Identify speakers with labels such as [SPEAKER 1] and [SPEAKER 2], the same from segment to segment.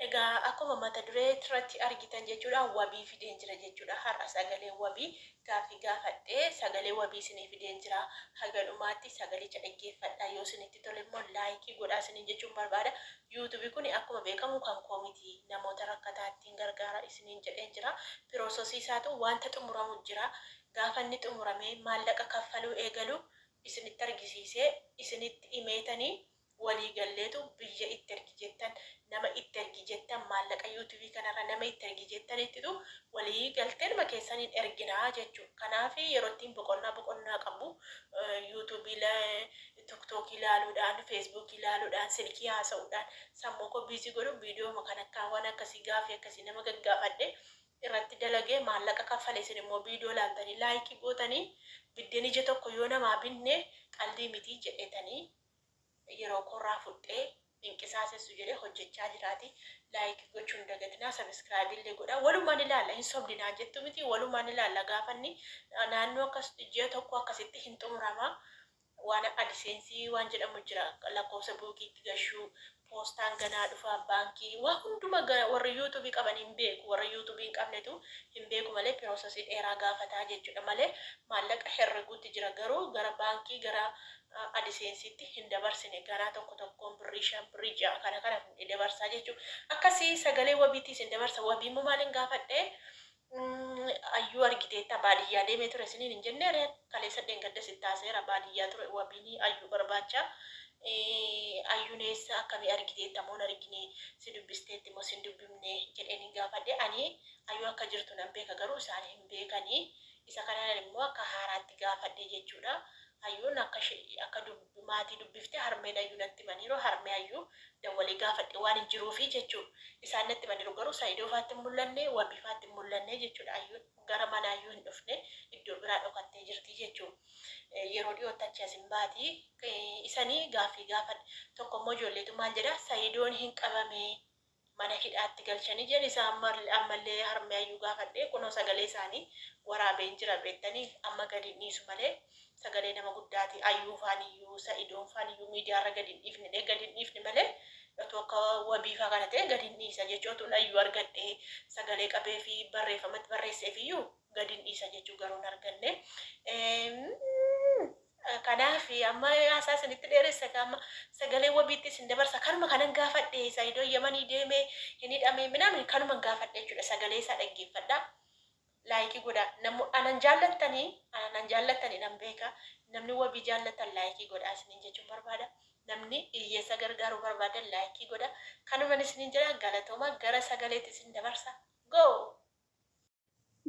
[SPEAKER 1] Egaa akkuma mata duree irratti argitan jechuudha wabii fideen jira jechuudha har'a sagalee wabii gaaffii gaafadhe sagalee wabii isinii fideen jira haga dhumaatti sagalicha dhaggeeffadhaa yoo isinitti tole immoo laayikii godhaa isiniin jechuun barbaada YouTube kuni akkuma beekamu kan koo miti namoota rakkataattiin gargaara isiniin jedheen jira piroososii isaatu wanta xumuramu jira gaafa inni xumuramee maallaqa kaffaluu eegalu isinitti argisiisee isinitti himeetanii walii galleetu biyya itti ergi jettan nama itti ergi jettan maallaqa you tube kanarra nama itti ergi jettaniittitu walii galteenuma keessaniin ergina jechuudha kanaaf yeroo ittiin boqonnaa boqonnaa qabu you tube tiktok ilaaluudhaan facebook ilaaluudhaan silkii haasa'uudhaan sammuu koo busy godhu viidiyooma kan akkaa waan akkasii gaafii akkasii nama gaggaafadhe irratti dalagee maallaqa kaffale isin immoo viidiyoo laaltanii laayikii gootanii biddeen ija tokko yoo namaa binne qaldii mitii jedhetanii yerookoorraa fudhee hin qisaasessu jedhee hojjechaa jiraati like gochuu hin dagatinaa subscribe illee godhaa walumaan ilaalla hin sobdi naan jettu miti walumaan ilaalla gaafanni naannoo akkas ji'a tokko akkasitti hin xumurama waan adiseensi waan jedhamu jira lakkoofsa buukiitti gashuu Poostaan ganaa dhufaa baankii waa hunduma gara warri youtube qaban hin beeku warra youtube hin qabnetu hin beeku malee pirosasii dheeraa gaafataa jechuudha malee maallaqa herreguutti jira garuu gara baankii gara adiseensiitti hin dabarsine ganaa tokko tokkoon birrii shan birrii ja'a kana kana dabarsaa jechuu akkasii sagalee wabiitti isin dabarsa wabii immoo maalin gaafadhee Ayyuu argiteetta baadiyyaa deemee ture siniin hin jennee ree kaleessa dheengaddas itti haasayeera baadiyyaa ture wabiini ayyuu barbaacha ayyuun eessa akkamii argiteetta moo hin argine si dubbisteetti moo si hin dubbifne jedheenin gaafadhe ani ayyuu akka jirtu nan beeka garuu isaan hin beekani isa kanaan immoo akka haaraatti gaafadhe jechuudha Ayyuun akka ishee akka dub maatii dubbifte harmeen Ayyuu natti himaniiru harmee Ayyuu dawwalee gaafadhe waan hin jiruufi jechuu isaan natti himaniiru garuu Sa'idoo faatti hin mul'anne Wabii faatti hin mul'anne jechuudha Ayyuun gara mana Ayyuu hin dhufne iddoo biraa dhokattee jirti jechuu yeroo dhiyootti achii as hin baati isanii gaaffii gaafadhe tokkommoo ijoolleetu maal jedha Sa'idoon hin qabamee mana hidhaatti galchanii jedhe isa ammallee harmee ayyuu gaafadhee kunoo sagalee isaanii waraabeen jira beettanii amma gadi hin dhiisu malee sagalee nama guddaati ayyuu faaniyyuu sa'idoon faaniyyuu miidiyaarra gadi hin dhiifne dhee gadi hin dhiifne malee otuu akka wabiifaa kana ta'e gadi hin dhiisa jechuu otuun ayyuu argadhe sagalee qabee fi barreeffamatti barreesseefiyyuu gadi hin dhiisa jechuu garuu hin arganne Kanaaf amma haasaa isinitti dheeressa egaa amma sagalee wabiitti isin dabarsa kanuma kanan gaafadhe saidoo yamanii deeme hin hidhame minaamin kanuman gaafadhe jechuudha sagalee isaa dhaggeeffadha laayikii godha namu anan jaallattani anan jaallattani nan beeka namni wabii jaallattan laayikii godha isinin jechuun barbaada namni iyyeessa gargaaruu barbaadan laayikii godha kanuman isinin jedha galatooma gara sagaleetti isin dabarsa go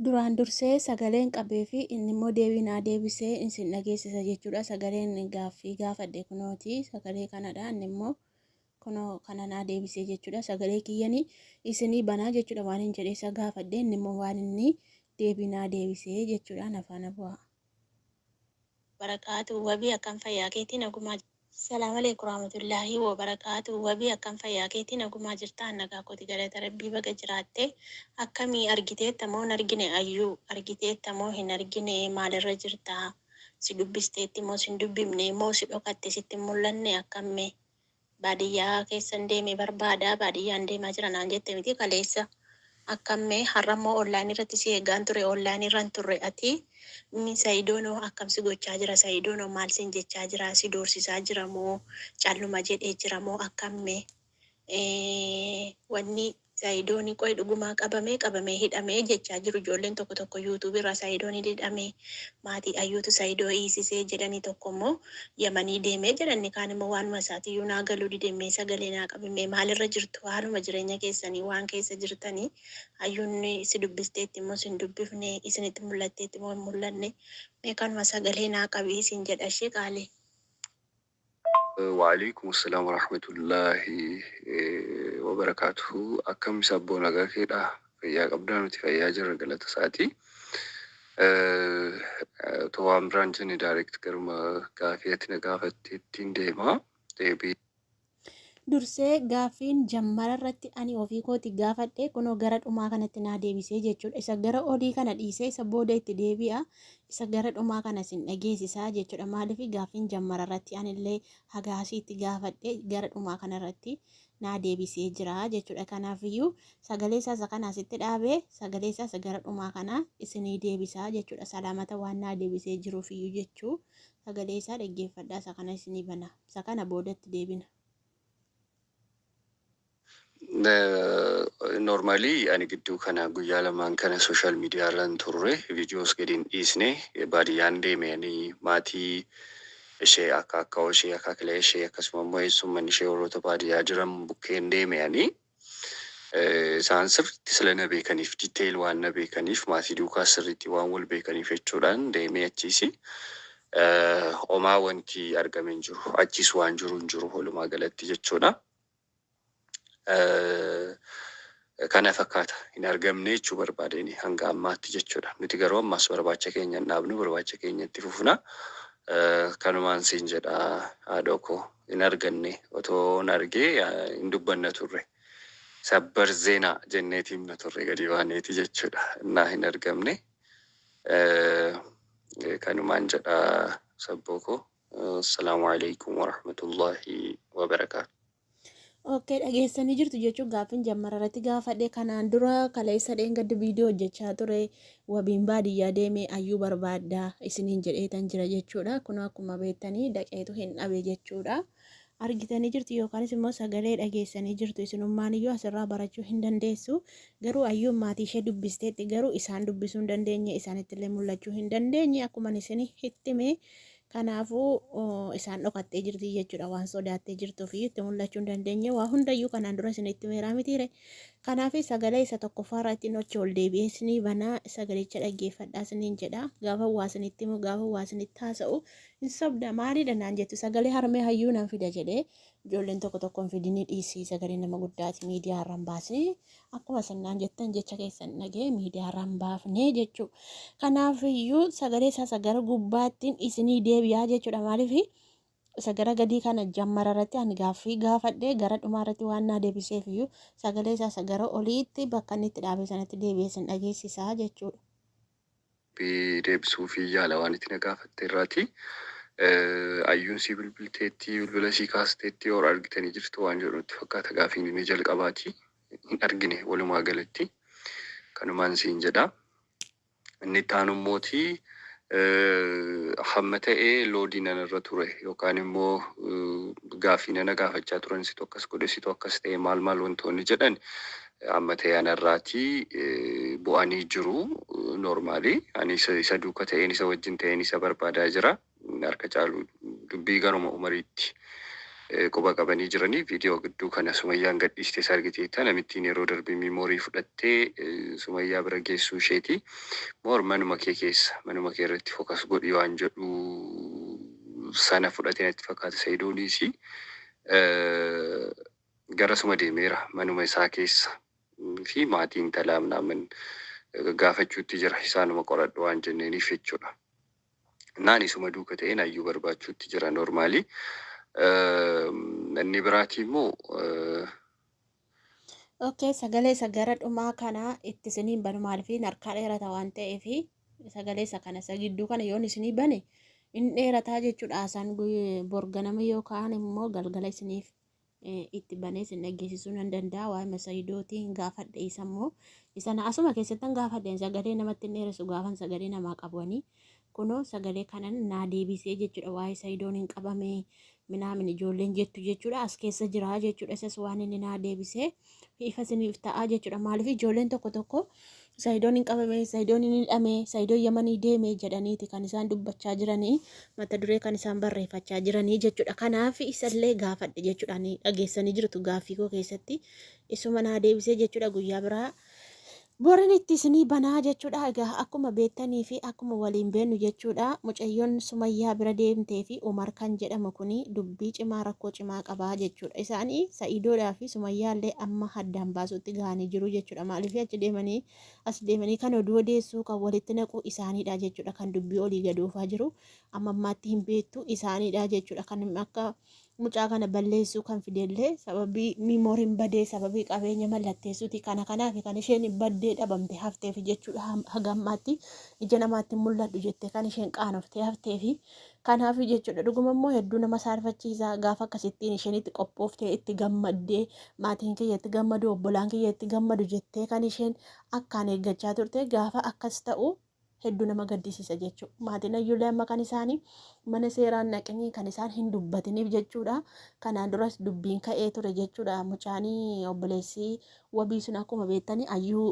[SPEAKER 2] Duraan dursee sagaleen qabee fi inni immoo deebii naa deebise isin dhageessisa jechuudha. Sagaleen gaaffii gaafadhe kunooti. Sagalee kanadha. Inni immoo kunoo kana naa deebisee jechuudha. Sagalee kiyyanii isinii banaa jechuudha waan hin jedhe isa gaafadhe inni immoo waan inni deebii naa deebisee jechuudha. Nafaana bu'aa. wabarakaatuh
[SPEAKER 3] wabii akkam fayyaa keetii nagumaa jirtaa. Salamalek waramatulahi wabarakatu wabii akkam fayyaa keetii nagumaa jirtaa an nagaa kooti galata rabbii baga jiraatte akkami argiteetta moo hin argine ayyuu argiteetta moo hin argine maalirra jirta si dubbisteetti moo sin dubbifne moo si dhokatte sitti hin mul'anne akkam mee Baadiyyaa keessan deeme barbaada baadiyyaan deemaa jira naan jette miti kaleessa akkam mee har'ammoo online irratti si eeggaan ture online irra hin turre ati mi sayidoonoo akkam si gochaa jira sayidoonoo maal sin jechaa jira si doorsisaa jira moo calluma jedhee jira moo akkam mee wanni Saidoni qoy dhugumaa qabamee qabamee hidhamee jechaa jiru ijoolleen tokko tokko YouTube irraa saidoni didhamee maatii ayyuutu saido hiisisee jedhani tokko immoo yamanii deemee jedha inni kaan immoo waanuma isaati iyyuu naa galuu dide mee sagalee naa qabi mee maal irra jirtu haaluma jireenya keessanii waan keessa jirtani ayyuun si dubbisteetti immoo sin dubbifne isinitti mul'atteetti moo hin mul'anne mee kanuma sagalee naa qabi siin jedha ishee qaalii.
[SPEAKER 4] Wa'aleeykum Assalam Warahmatullahi Wabarakatuhu Akkam Sabboo Nagaa keedhaa Fayyaa qabdaa nuti fayyaa jirra galata isaati Otoo waan biraan jenne direct garuma gaafii ati na gaafatteettiin deema deebii
[SPEAKER 2] Dursee gaaffiin jammara irratti ani ofii kooti gaafadhe kunoo gara dhumaa kanatti naa deebisee jechuudha. Isa gara olii kana dhiisee isa booda itti deebi'a. Isa gara dhumaa kana isin dhageessisa jechuudha. Maaliif gaaffiin jammara irratti anillee haga asiitti gaafadhe gara dhumaa kana irratti naa deebisee jira jechuudha. Kanaafiyyuu sagalee isaa isa kana asitti dhaabe sagalee isaa isa gara dhumaa kana isinii deebisa jechuudha. Salaamata waan naa deebisee jiruufiyyuu jechuu sagalee isaa dhaggeeffadhaa isa kana isinii bana. Isa kana boodatti deebina.
[SPEAKER 4] Normally ani gidduu kana guyyaa lamaan kana social media irra hin turre videos gadi hin dhiisne baadiyyaan deeme ani maatii ishee akka akka ishee akka kilee ishee akkasuma immoo eessumman ishee warroota baadiyyaa jiran bukkeen deeme ani Eh, isaan sirriitti sila na beekaniif detail waan na beekaniif maatii duukaa sirriitti waan wal beekaniif jechuudhaan deemee achiisi eh, homaa wanti argame hin jiru achiis waan jiru hin jiru walumaa galatti jechuudha. kana fakkaata hin argamne jechuu barbaadeen hanga ammaatti jechuudha. Nuti garuu ammaas barbaacha keenya hin dhaabnu barbaacha keenya itti fufna. Kanumaan siin jedha haadhoo koo hin arganne otoo hin argee hin dubbanna turre. Sabbar zeenaa jenneeti himna turre gadi baaneeti jechuudha. Innaa hin argamne kanumaan jedha sabboo koo. Assalaamu alaikum warahmatullahi wabarakaatu. Ok
[SPEAKER 2] dhageessanii jirtu jechuun gaaffiin jammara irratti gaafadhe kanaan dura kaleessa dheengaddi viidiyoo hojjechaa ture wabiin baadiyyaa deemee ayyuu barbaadda isiniin jedheetan jira jechuudha kun akkuma beektanii daqeetu hin dhabe jechuudha argitanii jirtu yookaanis immoo sagalee dhageessanii jirtu isinummaan iyyuu asirraa barachuu hin dandeessu garuu ayyuun maatii ishee dubbisteetti garuu isaan dubbisuu hin dandeenye isaanitti illee mul'achuu hin dandeenye akkuma isin hittime kanaafuu isaan dhokattee jirti jechuudha waan sodaattee jirtuu fi itti mul'achuu hin dandeenye waa hundayyuu kanaan dura isin itti meeraa mitiire kanaaf sagalee isa tokkoffaarraa ittiin ochi ol deebi'ee isinii banaa sagalicha dhaggeeffadhaa isiniin jedha gaafa waa isinitti himu gaafa waa isinitti haasa'u Hin sobda maalidha naan jettu sagalee harmee hayyuu nan fida jedhee ijoolleen tokko tokko hin fidinii dhiisii sagalee nama guddaati miidiyaa irra hin baasnee akkuma isin naan jettan jecha keessan dhagee miidiyaa irra hin baafnee jechuu kanaaf iyyuu sagalee isaa isa gara gubbaattiin isinii deebi'aa jechuudha maaliif isa gara gadii kana jammara irratti ani gaaffii gaafadhee gara dhumaa irratti waan naa deebiseef iyyuu sagalee isaa isa gara oliitti bakka inni itti dhaabee sanatti deebi'ee isin dhageessisaa jechuudha. Deebii deebisuufii
[SPEAKER 4] yaala waan ati na gaafatte irraati. Ayyuun sii bilbilteetti, bilbila sii kaasteetti or argitanii jirtu waan jedhu natti fakkaata gaafiin inni jalqabaati. Hin argine walumaa galatti. Kanumaan siin jedha. Inni itti aanu immooti hamma ta'e loodii nan irra ture yookaan immoo gaaffii nana gaafachaa turan situ akkas godhe situ akkas ta'e maal maal wantoonni jedhan Amma ta'e ana irraati bu'anii jiru normaali ani isa isa duuka ta'een isa wajjin ta'een isa barbaadaa jira harka caalu dubbii garuma umariitti eh, quba qabanii jiranii viidiyoo gidduu kana sumayyaan gadhiistees argiteetta namittiin yeroo darbe miimoorii fudhattee eh, sumayyaa bira geessuu isheeti moor manuma kee keessa manuma kee irratti fokas godhi waan jedhu sana fudhatee natti fakkaata sayidooniisi Eh, garasuma deemeera manuma isaa keessa fi maatii intalaa minaamin gaggaafachuutti jira isaanuma qoradhu waan jenneeniif jechuudha innaan isuma duuka ta'een ayyuu barbaachuutti jira normaalii inni biraatii immoo
[SPEAKER 2] Okay, sagalee isa gara dhumaa kana itti isiniin banu maaliif harkaa dheerata waan ta'eef sagalee isa kana isa gidduu kana yoon isinii bane in dheerataa jechuudha haasaan guyy- borganama yookaan immoo galgala isiniif itti banee sin dhaggeessisuu nan danda'a waa'ima sayidooti hin gaafadhe isa immoo isa na asuma keessattan gaafadheen sagalee namatti hin dheeressu gaafan sagalee namaa qabanii kunoo sagalee kanan naa deebisee jechuudha waa'ee sayidoon hin qabamee minaamin ijoolleen jettu jechuudha as keessa jiraa jechuudha isas waan inni naa deebisee. ifa isiniif ta'a jechuudha. Maaliif ijoolleen tokko tokko sayidoon hin qabame, sayidoon hin hidhame, sayidoon yamanii deeme jedhaniiti kan isaan dubbachaa jiranii mata duree kan isaan barreeffachaa jiranii jechuudha. Kanaaf isallee gaafadhe jechuudha. Ani dhageessanii jirtu gaaffii koo keessatti isuma naa deebisee jechuudha guyyaa biraa Borin itti isinii banaa jechudha egaa akkuma beektanii fi akkuma waliin beennu jechudha mucayyon sumayyaa bira deemtee fi umar kan jedhamu kuni dubbii cimaa rakkoo cimaa qabaa jechudha isaani sa'idoodhaa fi sumayyaa illee amma haddaan baasuutti gahanii jiruu jechudha maalifi achi deemanii as deemanii kan oduu odeessuu kan walitti naquu isaanidha jechudha kan dubbii olii gad oofaa jiru amma ammaatti hin beektu isaanidha jechudha kan akka mucaa kana balleessuu kan fidellee sababii miimooriin badee sababii qabeenya mallatteessuuti kana kanaaf kan isheen baddee dhabamte hafteefi jechuudha haga ammaatti ija namaatti mul'adhu jettee kan isheen qaanoftee hafteefi kanaaf jechuudha dhuguma immoo hedduu nama saarfachiisa gaafa akkasittiin isheen itti qophooftee itti gammaddee maatiin kiyya itti gammadu obbolaan kiyya itti gammadu jettee kan isheen akkaan eeggachaa turte gaafa akkas ta'u heddu nama gaddisiisa jechuu maatiin ayyuulee amma kan isaanii mana seeraan naqinii kan isaan hin dubbatiniif jechuudha kanaan duras dubbiin ka'ee ture jechuudha mucaanii obboleessii wabii sun akkuma beektanii ayyuu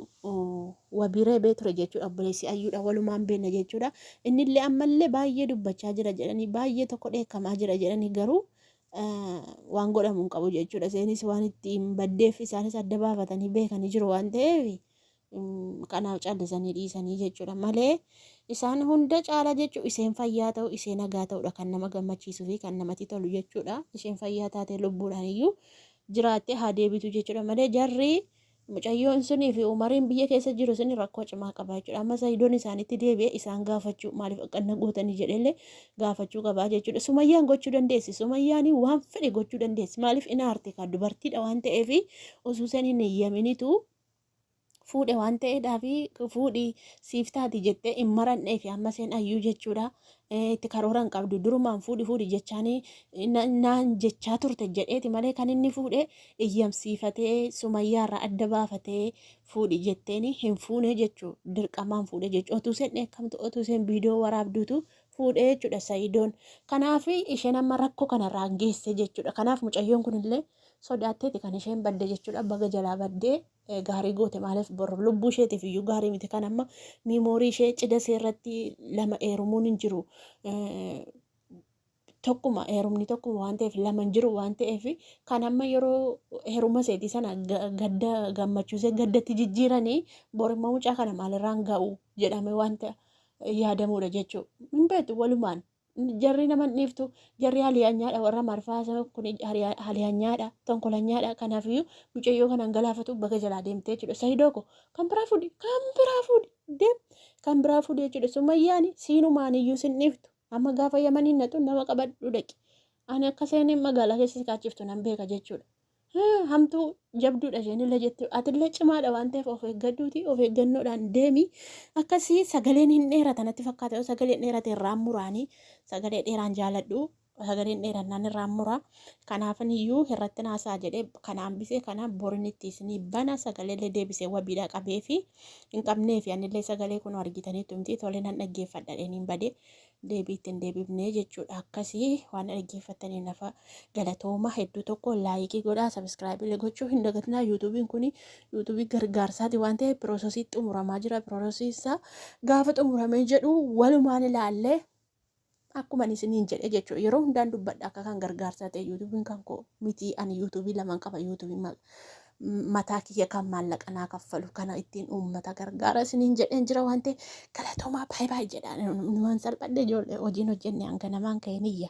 [SPEAKER 2] wabii reebee ture jechuudha obboleessii ayyuudha walumaan beekna jechuudha innillee ammallee baay'ee dubbachaa jira jedhanii baay'ee tokko dheekkamaa jira jedhanii garuu waan godhamu hin qabu jechuudha seenis waan ittiin baddeef isaanis adda baafatanii beekanii jiru waan ta'eef kanaaf callisanii dhiisanii jechuudha malee isaan hunda caala jechuun isheen fayyaa ta'u ishee nagaa ta'udha kan nama gammachiisuu fi kan namatti tolu jechuudha isheen fayyaa taatee lubbuudhaan iyyuu jiraattee haa deebitu jechuudha malee jarri mucayyoon sunii fi umariin biyya keessa jiru sun rakkoo cimaa qaba jechuudha amma sayidoon isaanitti deebi'e isaan gaafachuu maaliif akkanna gootanii jedhellee gaafachuu qabaa jechuudha sumayyaan gochuu dandeessi sumayyaan waan fedhe gochuu dandeessi maaliif inaarti kan dubartiidha waan ta'eef osoo isheen hin eeyyaminitu fuudhe waan ta'eedhaaf fuudhi siif taati jettee hin marannee fi amma seen ayyuu jechuudha itti karoora hin qabdu durumaan fuudhi fuudhi jechaanii naan jechaa turte jedheeti malee kan inni fuudhe iyyamsiifatee sumayyaarraa adda baafatee fuudhi jetteeni hin fuune jechuu dirqamaan fuudhe jechuu otuu seen dheekkamtu otuu seen viidiyoo waraabduutu fuudhe jechuudha sayidoon kanaaf isheen amma rakkoo kanarraan geesse jechuudha kanaaf mucayyoon kunillee sodaatteeti kan isheen badde jechuudha baga jalaa baddee eh, gaarii goote maaliif bor lubbuu isheetiif iyyuu gaarii miti kan amma miimoorii ishee cida ishee irratti lama eerumuun hin jiru Eh, tokkuma heerumni tokkuma waan ta'eef lama hin jiru waan ta'eef kan amma yeroo heeruma seetii sana ga- gadda gammachuusee gaddatti jijjiiranii bor immoo mucaa kana maalirraan ga'u jedhame wanta yaadamuudha jechuudha. Hin beektu walumaan jarri nama hin dhiiftu jarri haliyaanyaadha warra marfaasa kun haliyaanyaadha tonkolanyaadha kanaafiyyuu mucayyoo kanaan galaafatu baga jalaa deemtee jechuudha sayidoo ko kan biraa fuudhi kan biraa fuudhi deem kan biraa fuudhi jechuudha sumayyaani siinumaaniyyuu sin dhiiftu amma gaafa yamaniin natu nama qabadhu dhaqi ani akka seeneen magaalaa keessa si kaachiftu nan beeka jechuudha Hmm, hamtuu jabduudha isheenillee jetti atillee cimaadha waan ta'eef of eeggadhuuti of eeggannoodhaan deemi akkasii sagaleen hin dheerata natti fakkaata yoo sagaleen dheerate irraan muraanii sagalee dheeraan jaaladhu sagaleen dheerannaan irraan mura kanaafin iyyuu irratti naasaa jedhee kanaan bisee kanaan borin itti isinii bana sagaleellee deebisee wabiidha qabee fi hin qabnee fi anillee sagalee kun argitaniitu miti tolee nan dhaggeeffadha dheniin badee deebii itti hin deebifne jechuudha akkasii waan dhaggeeffattaniin nafa galatooma hedduu tokko laayikii godhaa sabiskiraayibii illee gochuu hin dagatinaa yuutuubiin kun yuutuubii gargaarsaati waan ta'eef piroosesii xumuramaa jira piroosesii isaa gaafa xumuramee jedhu walumaan ilaallee akkuma ani isiniin jedhe jechuudha yeroo hundaan dubbadha akka kan gargaarsaa ta'e yuutuubiin kan koo mitii ani yuutuubii lamaan qaba yuutuubii mataa kiyya kan maallaqa naa kaffalu kana ittiin uummata gargaara isiniin jedheen jira waan ta'e galatoomaa baay'ee baay'ee jedhaan numan salphadhe ijoollee hojiin hojjenne hanga namaan ka'e niyya.